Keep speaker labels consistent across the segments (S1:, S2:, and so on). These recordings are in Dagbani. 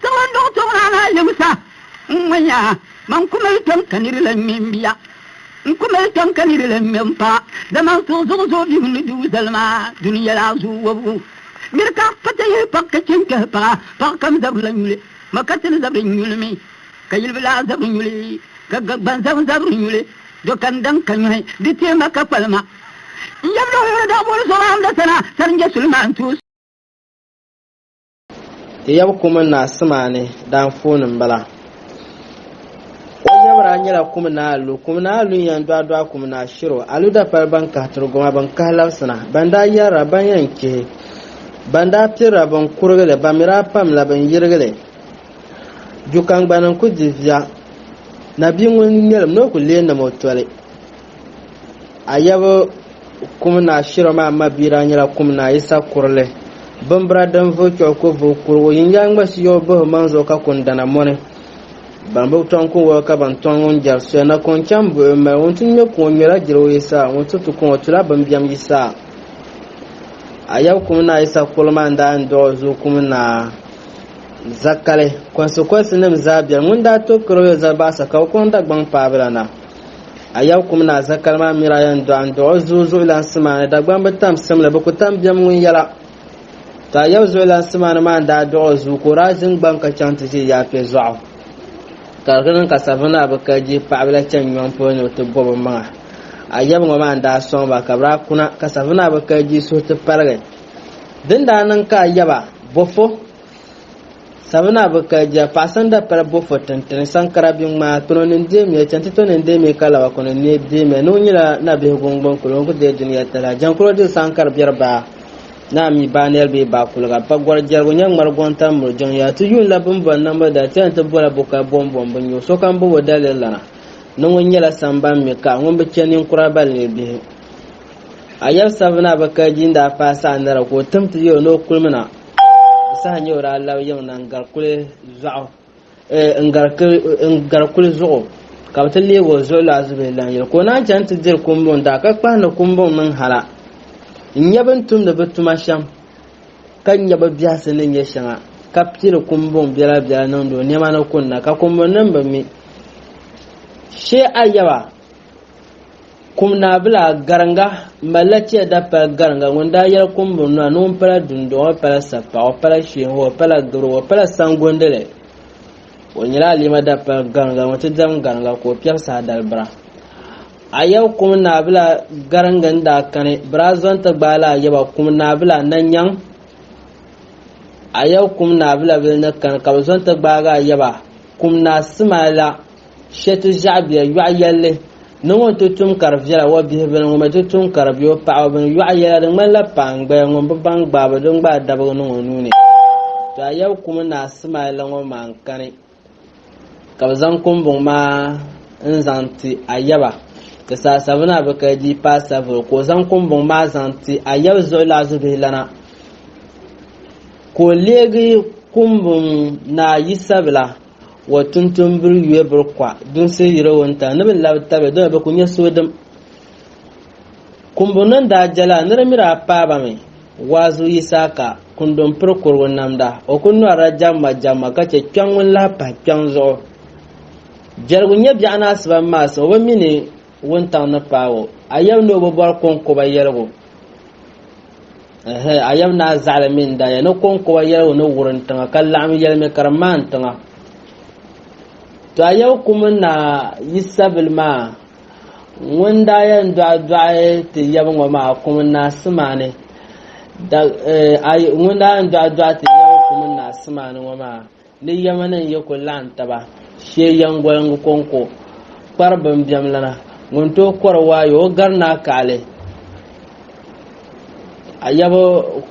S1: Ka man dɔɣi tɔbu maa na yɛbu sa, N ŋɔ ya, man ku mali kpɛm ka niri lan ŋme m-bia. N ku mali kpɛm ka niri lan ŋme m paɣa, dama n suhu zuɣu zooi bihu ni dugu zali maa duni yɛla zuɣu wɔbigu. Nir ka pa ti yihi paɣ ka chɛ n-kpɛhi paɣa, paɣ kam zabiri lan nyuli, ma ka ti ni zabiri n-nyuli mi, ka yilibilaa zabiri nyuli, ka gbanzam zabiri nyuli, do ka n daŋ ka nyɔhi di teei ma ka kpali ma. N yɛbila o yuli daa booni Zɔbaam la sana, Sarinjɛ Sulimaan tuus.
S2: Ti yab kum naa Simani daanfooni m-bala. O yabira nyɛla kum naa Alu. Kum naa Alu n-yɛn dɔɣi dɔɣi kum naa Shiro. Alu dapali ban kahi Turugoma ban kahi labisina, ban daa yɛrira ban yɛn chihi, ban daa pirira ban kurigi li, ban mi daa pamla ban yirigi li. Jukangbani n-kuli di via, Nabia ŋun ŋmɛlim ni o ku leei nam o toli. Ayaba kum naa shiro maa mabia daa nyɛla kum naa Yisa Kurili. Bimbira din vuhi kpɛbu ku vuhi kurigu yin yaa ŋma si yɔbu bihi maŋ zuɣu ka kun dana mɔni. Ban bi tɔŋ kun wɔbi ka ban tɔŋ ŋun jɛri soya na ka o chaŋ buɣi o mali ŋun ti ŋme kuŋ o ŋmela jirigu Yisa ŋun ti tu kuŋ o tula bimbiɛm Yisa. Ayaba kum naa Yisa Kurili maa n-daa yɛn dɔɣi o zuɣu kum naa Zakali kɔnsikɔnsi nim zaa bɛni ŋun daa tooi kari o yoli Zalibaɣisa ka o kɔŋ Dagbaŋ paabila na. A yɛb kum ni a za kali maa miri a yɛn dɔɣi n dɔɣi o zuɣu zuɣulansi maa ni Dagbaŋ bi tam sim li bi ku tam biɛm ŋun yɛla Ka a yɛb zuɣulansi maa ni maa n daa dɔɣi o zuɣu ka o daa ʒin gbaŋ ka chaŋ ti ʒe Yaapɛ Zɔɣu ka di niŋ ka Savinaa bi ka jihi paɣibila chani nyɔŋ polo ni o ti bɔbi o maŋa a yɛb ŋɔ maa n daa sɔŋ ba ka bi daa kuna ka Savinaa bi ka jihi suhu ti paligi din daa niŋ ka a yɛba bɔ fo Sabina bi ka ja paɣasanda pala bofo tintini sankara bi ŋmaa tono ni deemiya chɛnti to ni deemiya ka laba kuni ni deemiya ni o nyila na bihi gungbun kuli o ku dee duniya tala jankuro diri sankari biɛri baa naa mi baa nɛri bee baa kuliga pa gɔri jɛrigu nyɛ ŋmari gɔŋ tam miri jɔŋ ya ti yuun la bin bɔri nambo da tɛni ti bola bo ka bom bom bi nyu sokam bobo daliri lana ni ŋun nyɛla samban mi ka ŋun bi chɛ ninkura bali ni bihi a yɛri sabina bi ka ji n daa paai saɣa nɛra ka o tim ti yɛ o ni o kulimi na Di saha nyɛ o daa labi yiŋ na n-gari kuli zuɣu n-gari kuli zuɣu ka bɛ ti leegi o zuɣu laa zubihi lan yɛli ka o naan chani ti diri kumbuŋ daa ka kpahi ni kumbuŋ niŋ hala n-nya bɛ ni tumdi bɛ tuma shɛm ka nya bɛ biɛhisi ni nyɛ shɛŋa ka pili kumbuŋ biɛla biɛla niŋdi o nɛma ni kunna ka kumbuŋ nim bi mi shee a yaba Kum naa bila gariŋga malila tia da pali gariŋga ŋun daa yɛli kumbuni nua ni ŋun pala dundɔŋɔ pala sapaɣu pala sheeho pala gibiribo pala sangondili o nyɛla alima da pali gariŋga ŋun ti dam gariŋga ka o piɛbi saha dalibira ayɛbu kum naa bila gariŋga n daa kani bira zɔn ti gbaai la ayɛba kum naa bila na nyaŋ ayɛbu kum naa bila bili ni kani ka bi zɔn ti gbaagi ayɛba kum naa sima la Shɛtu ʒiɛɣubiɛ yɔɣu yɛlli ni ŋun ti tum ka di viɛla o bihibili ŋun bi ti tum ka di bɛ o paɣaba bini yɔɣu yɛla di ŋmanila paangbaya ŋun bi baŋ gbaaba din gbaai dabigu niŋ o nuu ni to a yɛbi kumi ni a simaali la ŋɔ maa n-kani ka bi zaŋ kumbuŋ maa n-zaŋ ti a yɛba ti saai sabina a bi ka di paai savili ka o zaŋ kumbuŋ maa zaŋ ti a yɛbi zuɣu laɣizubihi lana ka o leegi kumbuŋ ni a yi sabila wa tuntun biri yue biri kwa dunsi yiri o ta ni bi labi tabi dɔmi bi ku nyɛ suhudim kumbu ni daa jɛla ni di miri a paaba mi waazu yisaaka kundun piri kurigu namda o ku nɔrila jɛmma jɛmma ka chɛ kpɛŋ ŋun lahi pahi kpɛŋ zuɣu jɛligu nyɛ biɛɣu ni asiba maasi o bi mi ni wuntaŋ ni paai o a yɛm ni o bi bɔri kɔŋkoba yɛligu Ɛhɛ, a yɛm naa zaɣili mini daaya ni kɔŋkɔba yɛligu ni wurim tiŋa ka laɣim yɛlimi ka di maan tiŋa. To a yɛbu kumi naa Yisabili maa ŋun daa yɛn dɔɣi dɔɣi ti yɛbu ŋɔ maa kumi naa Simaani da eh, a ŋun daa yɛn dɔɣi dɔɣi ti yɛbu kumi naa Simaani ŋɔ maa Ni yɛmani n-yi kul laɣim taba shee yɛŋgoliŋgu kɔŋko kpari bimbɛmlana, ŋun tooi kɔri waayɔ o gari ni a kaɣili a yaba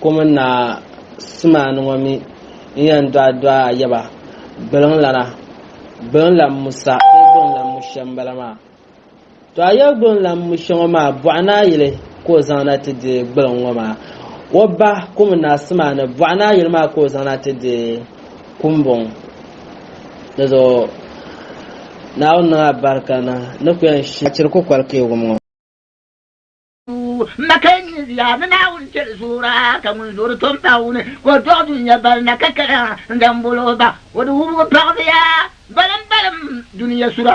S2: ko mini ni a simani ŋɔ mi n-yɛn dɔɣi dɔɣi a yaba biliŋlana, biliŋlam Musa bee biliŋlam Mushɛm m-bala maa. To a yɛligu n-lan mu shɛ ŋɔ maa, bɔɣi ni a yili ka o zaŋ na ti deei gbaliŋ ŋɔ maa. O ba ku mi na simani, bɔɣi ni a yili maa ka o zaŋ na ti deei kumbɔŋ. Di zuɣu Naawuni niŋ a barika ni ni ku yɛn shiri kukoli keegu ŋɔ. M
S1: ma ka n ni ziya ni Naawuni cheli zuura ka ŋun zuuri tom pa o ni ka o dɔɣi dunia bali na ka kaya n zaŋ bol o ba o di wubigu paɣisiya balim balim
S3: dunia sura.